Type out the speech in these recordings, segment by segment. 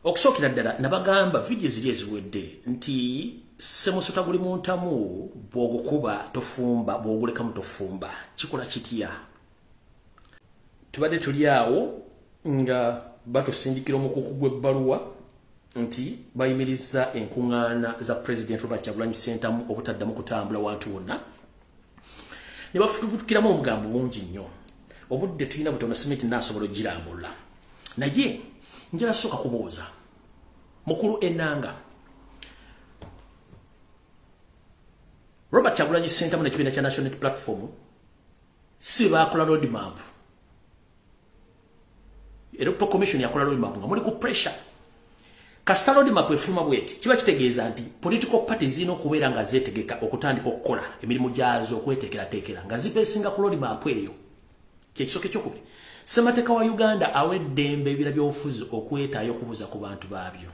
okusookera ddala nabagamba vidiyo ziri eziwedde nti semusota guli muntamu bwogukuba tofumba bwogulekamu tofumba kikola kitya tubadde tuli awo nga batusindikira omukuku gw'ebbaluwa nti bayimiriza enkuŋŋaana za pulezidenti robert kyagulanyi ssentamu obutaddamu kutambula wantu wonna ne bafutubutukiramu omugambo mungi nnyo obudde tulina butono simiti naasobola ogirambulula naye njala sooka kubuuza mukulu enanga robert kyagulanyi sentamu nekibiina kya national platform si baakola roadmap electoral commission yakola lodi mapu nga muli ku pressure kasita lodi mapu efuluma bweti kiba kitegeeza nti political party zirina okubeera nga zetegeka okutandika okukola emirimu gyazo okwetekerateekera nga zibesinga ku lodi mapu eyo kyekisoka ekyokubiri semateeka wa uganda awa eddembe ebira byobufuzi okwetaayo okubuuza ku bantu baabyo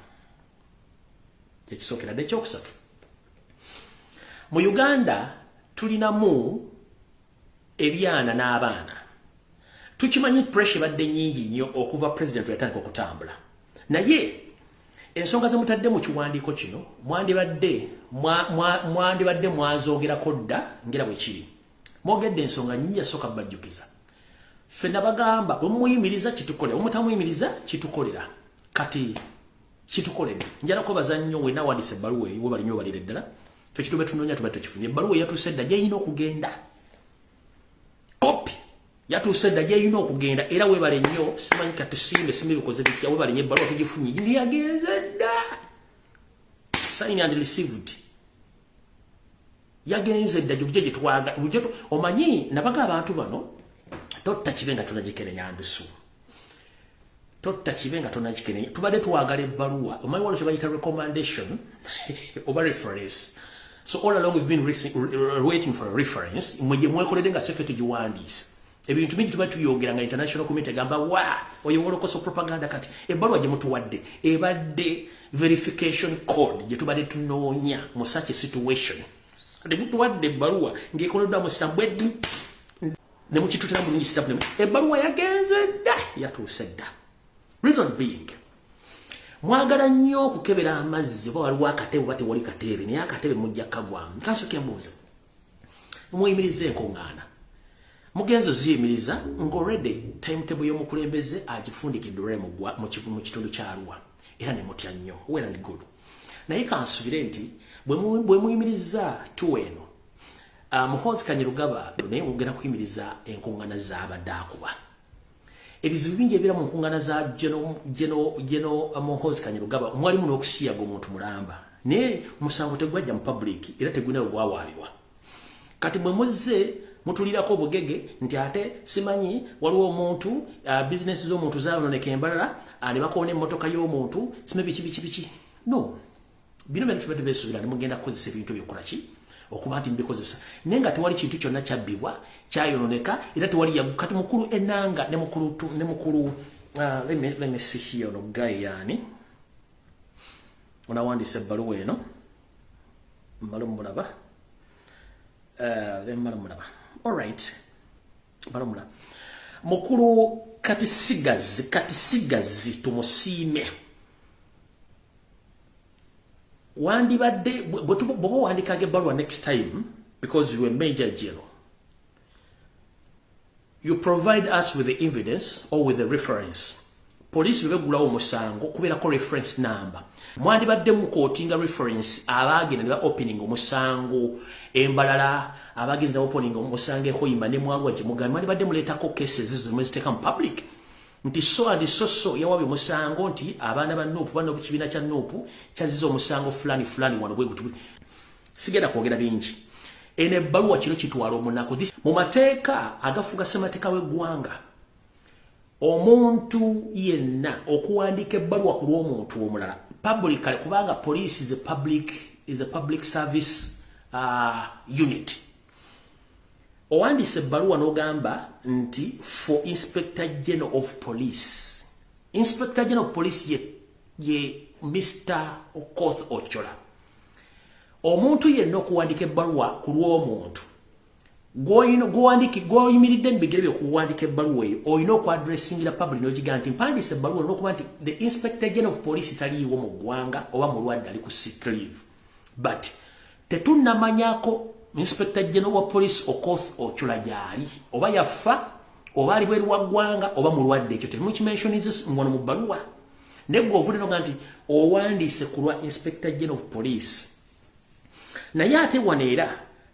kyekisookera dde ekyokusatu mu uganda tulinamu ebyana n'abaana tukimanyi pressure badde nyingi nnyo okuva president yatandika okutambula naye ensonga zemutadde mu kiwandiiko kino mwandibadde mwandibadde mwazoogerako dda ngera bwe kiri mwogedde ensonga nyingi yasooka bajjukiza ffe nabagamba bwemuyimiriza kitukolera bwemutamuyimiriza kitukolera kati kitukoledde njala kwebaza nnyo wena wandisa ebbaluwa eyo webali nyo balire ddala fe kitu betunoonya tuba tukifunye ebbaluwa eyatuuse edda gyeyina okugenda kopi yatuuse edda gyeyina okugenda era webale nnyo simanyi katusimbe simbi bikoze bitya webale nnyo ebbaluwa tugifunye ndi yagenze dda signed and received yagenze dda gyokija gyetwaga omanyi nabaga abantu bano totta kibe nga tunagikerenya ndusu totta kibe nga tunagikerenya tubadde twagala ebbaluwa omanyi wano kyebayita recommendation oba reference so all along we've been waiting for a reference mwe gyemwekoledde nga sefe tugiwandiisa ebintu bingi tuba tuyogera nga international community gamba wa oyo wolokoso propaganda kati ebbaluwa gye mutuwadde ebadde verification code gye tubadde tunoonya mu such a situation kati mutuwadde ebbaluwa ng'ekoleddwa mu sitampu eddu ne mukitutira bulungi sitampu ne ebbaluwa yagenze dda yatuuse dda reason being mwagala nnyo okukebera amazzi oba waliwo akatebe oba tewali katebe naye akatebe mujja kagwamu kansoke mbuuza mumuyimiriza enkuŋŋaana mugenzo ziyimiriza ng'olredi timetable y'omukulembeze agifundikidde olwali mu kitundu kya arua era ne mutya nnyo well and good naye kansubire nti bwe muyimiriza tuwa eno ah, muhoozi kanyerugaba naye mugenda kuyimiriza enkuŋŋana z'abadde akuba ebizibu bingi ebibeera mu nkungana za geno uh, muhozi kanyirugaba omwalimu n'okusiyaga omuntu mulamba naye omusango tegwajja mu public era tegulina we gwawaabibwa kati mwe muzze mutulirako obugege nti ate simanyi waliwo omuntu uh, bizinesi z'omuntu zayononeka embalala uh, ne bakoona emmotoka y'omuntu sime biki biki biki no bino byonna tubadde beesuubira ne mugenda kukozesa ebintu ebyo kukola ki okuba nti mubikozesa naye nga tewali kintu kyonna kyabbibwa kyayononeka era tewali yagu kati mukulu enanga ne mukulu ne mukulu uh, lemesihi ono gayi yaani onawandiisa ebbaluwa eno mbale mumulaba uh, emmala mumulaba all right balumula mukulu kati sigazi kati sigazi tumusiime wandibadde bwoba wandikaga ebbaluwa next time because you a major general you provide us with the evidence or with the reference poliisi bwe beggulawo omusango kubeerako reference number mwandibadde mukootinga reference abaagenda ne ba opening omusango embalala abagenzi ne opening omusango ehoima ne mwalwa gye mugani mwandibadde muleetako cases ezo mwe ziteeka mu public nti so and so so yawabye omusango nti abaana ba nuupu bano kibiina kya nuupu kyaziza omusango fulani fulani wano bwe gutu sigenda kwogera bingi eno ebbaluwa kino kitwala omunaku mu mateeka agafuga ssemateeka w'eggwanga omuntu yenna okuwandiika ebbaluwa ku lw'omuntu omulala public kale kubanga police is a public, is a public service uh, unit owandiise ebbaluwa n'ogamba nti for inspector general of police inspector general of police ye, ye mr okoth ochola omuntu yenna okuwandiika ebbaluwa ku lw'omuntu gwoyimiridde mu bigere byokuwandika ebbaluwa eyo olina okuadressingira public nogigaa nti mpandiisa ebbaluwa olina okuba nti the inspector general of police taliiwo mu ggwanga oba mulwadde ali ku siclive but tetunnamanyako inspector general wa police okoth ocula gyali oba yaffa oba ali bweru wa ggwanga oba mulwadde ekyo temukimensionizes ngono mu bbaluwa naye gwe ovudde noga nti owandiise ku lwa inspector general of police naye ate wano era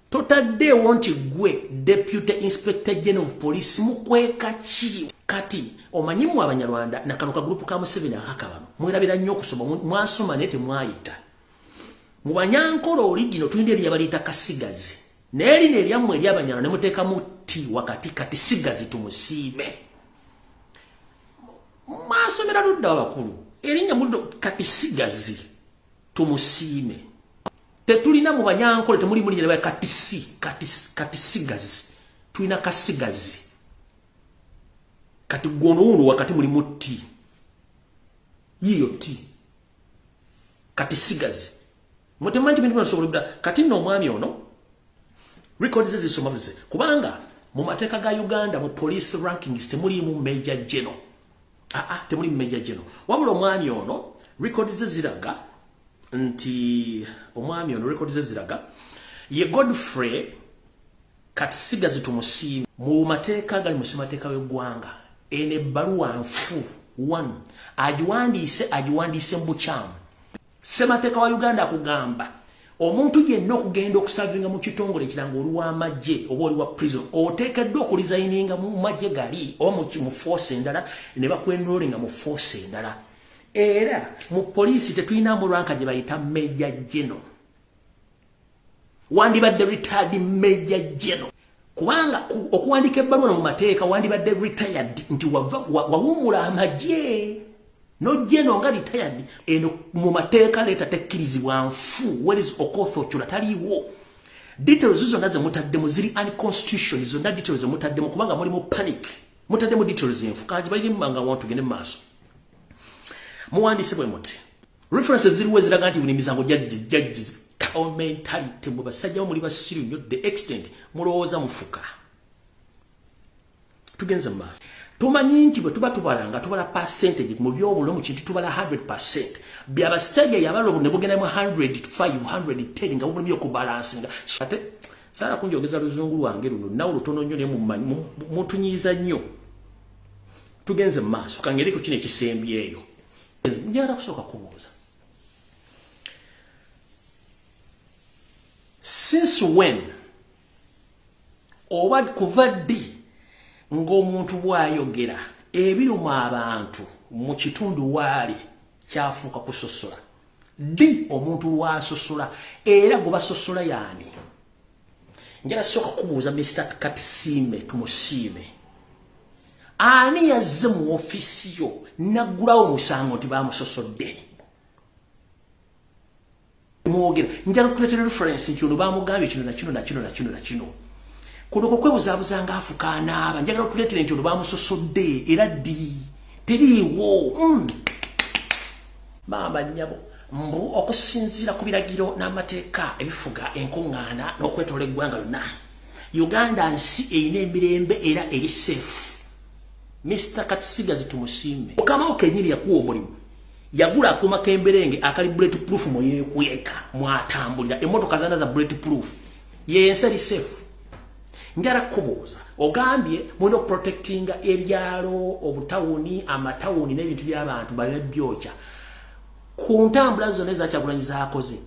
totaddeewo nti gwe deputy inspector general of police mukweka ki kati omanyi mu abanyarwanda nakano ka group ka museveni akaka bano mwerabira nnyo okusoma mwasoma naye temwayita mu banyankole oli gino tulina ebyo yabaleeta kasigazi naye lino eryammwe eryabanyarwanda ne muteekamu ti wakati kati sigazi tumusiime mwasomera ludda abakulu erinnya mudo kati sigazi tumusiime tetulina mu banyankole temuli muli nyereba katisi katisi katisigazi tulina kasigazi kati gwono wuno wakati muli mutti yiyo ti katisigazi mwetemanyi bintu binasobola kati no omwami ono records zisoma mze kubanga mu mateka ga Uganda mu police rankings temulimu major general ah, ah, temuli meja gino wabula omwami ono rekodi ze ziraga nti omwami ono rekodi ze ziraga ye godfrey kati sigazi tumusiimi mu mateeka agali mu ssemateeka w'eggwanga eno ebbaluwa nfu one agiwandiise agiwandiise mu bukyamu Ssemateka wa Uganda akugamba omuntu yenna okugenda okusavinga mu kitongole ekiranga oli w'amagye oba oli wa prison oteekeddwa okulizayininga mu magye gali oba mu force endala ne bakwenrollinga mu force endala era mu poliisi tetulinamu lwanka gye bayita meja geno wandibadde retired major general kubanga okuwandika ebbaluwa no mu mateeka wandibadde retired nti wava wawumula amagye nojeno nga retired eno mu mateeka leeta tekkirizibwa nfu whereis okoth okyula taliiwo details zonna zemutaddemu ziri unconstitution zonna details zemutaddemu kubanga mulimu panic mutaddemu details enfu kanzibayirimu banga wantu gende mu maaso muwandiise bwe muti references ziriwo eziraga nti buli misango jajjizi town mentality mwe basajjawo muli basiru nnyo the extent mulowooza mufuka tugenze mu maaso tumanyi nti bwe tuba tubala nga tubala percentage mu by'obulo mu kintu tubala 100 percent byabasajja yabala obu ne bugenda mu 100 510 nga bubulumi okubalansi nga ate saala kunjogeza luzungu lwange luno nawe lutono nnyo naye mutunyiiza nnyo tugenze mu maaso kangeri ku kino ekisembyeyo njagala kusooka kubuuza since when oba kuva ddi ng'omuntu bw'ayogera ebiruma abantu mu kitundu waali kyafuuka kusosola ddi omuntu lwasosola era gwe basosola yaani njala soka kubuuza Mr. Katisime tumusiime ani yazze mu ofisi yo naggulawo musango nti bamusosodde mwogera njala okutuletera reference nti ono bamugambye kino nakino nakino nakino nakino kuno kwekwebuzabuza nga afuka anaaba njagala okutuletera nti ono bamusosodde era ddi teriiwo mm. maama nnyabo mbu okusinziira ku biragiro n'amateeka ebifuga enkuŋŋaana n'okwetoola eggwanga lyonna uganda nsi erina emirembe era eri seefu mr katisigazi tumusiime mukamawo kenyini yakuwa omulimu yagula akuuma k'emberenge akali bullet proof mwe yeekweka mwatambulira emmotoka zana za bullet proof yensi eri seefu njala kubuuza ogambye mulina okuprotectinga ebyalo obutawuni amatawuni n'ebintu by'abantu balina byokya ku ntambula zona ezakyagulanyi zakoze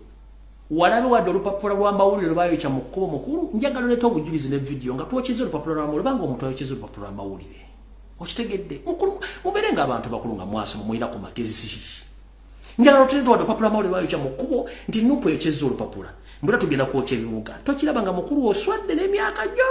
walabe wadde olupapula lwamawulire lwebayokya mu kkubo mukulu njagala oleeta obujulizi ne vidiyo nga twokyeza olupapula lwamawulire banga omuntu ayokyeza olupapula lwamawulire okitegedde mubeere nga abantu bakulu nga mwasoma mulina ku magezi njala otuleta wadde opapula mawulire lwayokya mu kkubo nti nupu ekyezza olupapula mbula tugenda kwokya ebibuga tokiraba nga mukulu oswadde n'emyaka gyo